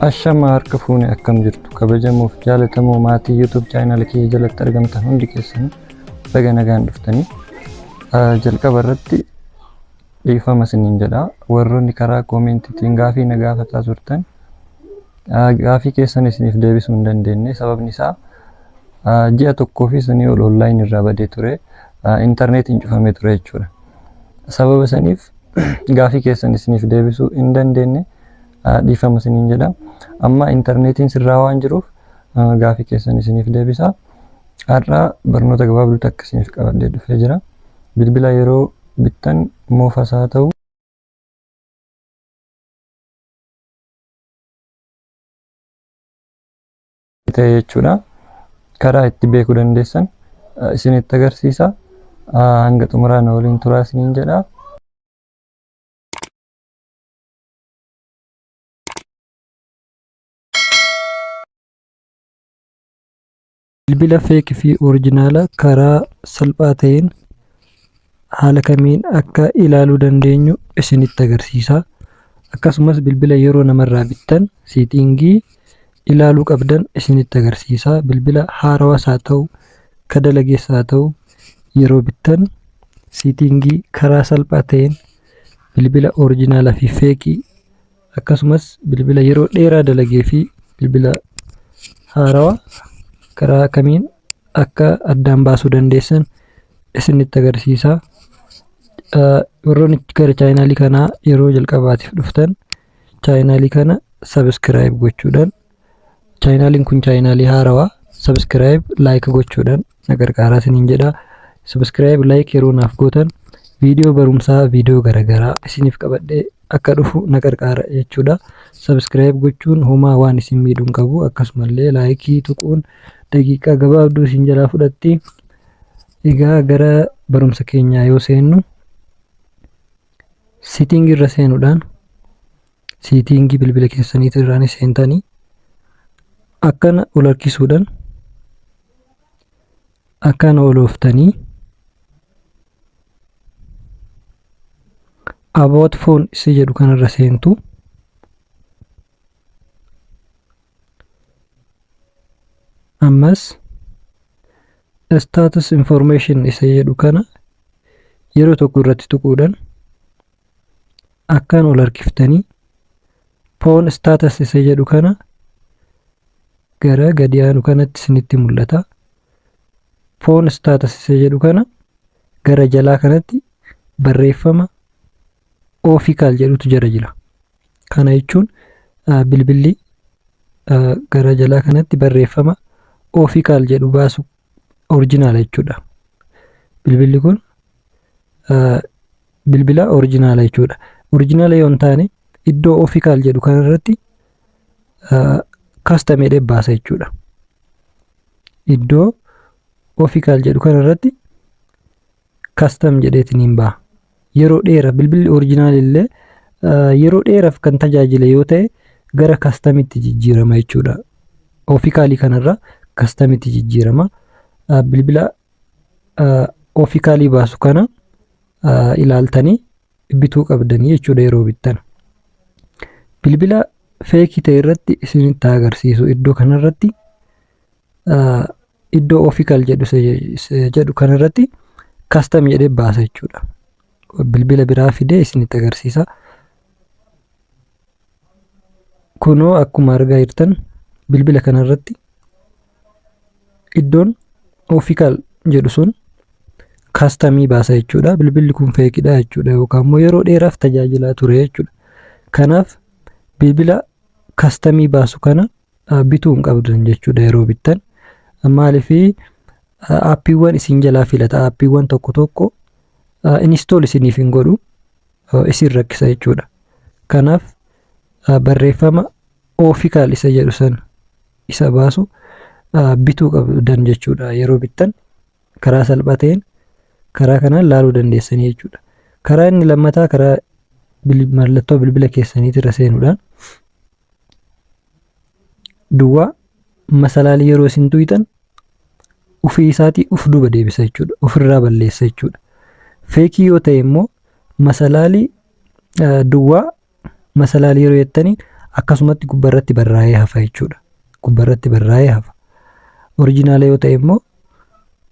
Ashama harka fuune akkam jirtu kabajamuuf jaalatamoo maatii YouTube chaanal kiyya jalatti argamtan hundi keessan baga nagaan dhuftanii jalqaba irratti dhiifama isiniin jedha warroonni karaa koomeentiitiin gaafii na gaafataa turtan Gaafii keessan isiniif deebisuu hin dandeenye sababni isaa ji'a tokkoo fi sanii ol online irraa badee ture interneetiin cufamee ture jechuudha. Sababa saniif gaafii keessan isiniif deebisuu hin dandeenye dhiifama isiniin jedha. Amma interneetiin sirraa waan jiruuf gaafii keessan isiniif deebisa. Har'a barnoota gabaabduu takka isiniif qabadhee dhufee jira. Bilbila yeroo bittan moofas haa ta'u ta'e jechuudha. Karaa itti beekuu dandeessan eh, isinitti agarsiisa. Ah, Hanga xumuraa na waliin turaa isiniin jedha. Bilbila fake fi originala karaa salphaa ta'een haala kamiin akka ilaaluu dandeenyu isinitti agarsiisa. Akkasumas bilbila yeroo namarraa bittan seetiingii ilaaluu qabdan isinitti agarsiisa. Bilbila haarawas haa ta'u, ka dalagees haa ta'u yeroo bittan seetiingii karaa salphaa ta'een bilbila originala fi fake akkasumas bilbila yeroo dheeraa dalagee fi bilbila haarawa karaa kamiin akka addaan baasuu dandeessan isinitti agarsiisa. Warroonni gara chaayinaalii kanaa yeroo jalqabaatiif dhuftan chaayinaalii kana sabiskiraayib gochuudhaan Chaayinaaliin kun chaayinaalii haarawaa sabiskiraayib laayik gochuudhaan na gargaaraa isiniin jedha. Sabiskiraayib laayik yeroo naaf gootan viidiyoo barumsaa viidiyoo garaagaraa isiniif qabadhee akka dhufu na gargaara jechuudha. Sabiskiraayib gochuun homaa waan isin miidhuun qabu akkasumallee laayikii tuquun daqiiqaa gabaabduu isin jalaa fudhatti. Egaa gara barumsa keenyaa yoo seennu sitting irra seenuudhaan seetiingii bilbila keessaniitu irraan seentanii akkana ol harkisuudhaan akkana ol ooftanii about phone si jedhu kanarra seentu ammas status information isa jedhu kana yeroo tokko irratti tuquudhaan akkaan ol harkiftanii poon staatas isa jedhu kana gara gadi aanu kanatti isinitti mul'ata. Poon staatas isa jedhu kana gara jalaa kanatti barreeffama oofikaal jedhutu jala jira. Kana jechuun bilbilli gara jalaa kanatti barreeffama oofikaal jedhu baasu orijinaala jechuudha. Bilbilli kun bilbila orijinaala jechuudha. Orijinaala yoo hin taane iddoo oofikaal jedhu kanarratti kastam jedhee baasa jechuudha. Iddoo oofikaal jedhu kanarratti custom jedheetiniin baha. Yeroo dheera bilbilli original illee yeroo dheeraaf kan tajaajile yoo ta'e gara kastamitti jijjiirama jechuudha. Ofikaalii kanarra kastamitti jijjiirama. Bilbila ofikaalii baasu kana ilaaltanii bituu qabdanii jechuudha yeroo bittan. Bilbila feekii ta'e irratti isinitti agarsiisu iddoo kanarratti iddoo ofical jedhu jedhu kan irratti custom jedhee baasa jechuudha. Bilbila biraa fidee isinitti agarsiisa. Kunoo akkuma argaa jirtan bilbila kana irratti iddoon ofical jedhu sun kastamii baasa jechuudha. Bilbilli kun feekidha jechuudha yookaan immoo yeroo dheeraaf tajaajilaa ture jechuudha. Kanaaf bilbila kastamii baasu kana bituu hin qabdan jechuudha yeroo bittan. Maaliif aappiiwwan isin jalaa filata aappiiwwan tokko tokko inistool isiniif hin godhu isin rakkisa jechuudha. Kanaaf barreeffama oofikaal isa jedhu sana isa baasu bituu qabdan jechuudha yeroo bittan karaa salphaa ta'een karaa kanaan laaluu dandeessanii jechuudha. Karaa inni lammataa karaa mallattoo bilbila keessaniitirra seenuudhaan duwwaa masalaalii yeroo isin tuqxan ofii isaatii of duuba deebisa jechuudha. Ofirraa balleessa jechuudha. Feekii yoo ta'e immoo masalaalii duwwaa masalaalii yeroo jettanii akkasumatti gubbarratti barraa'ee hafa jechuudha. Gubbarratti barraa'ee hafa. Orijinaala yoo ta'e immoo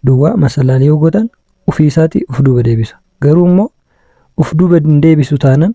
duwwaa masalaalii yoo godhan ofii isaatii of duuba deebisa. Garuu immoo of duuba hin deebisu taanan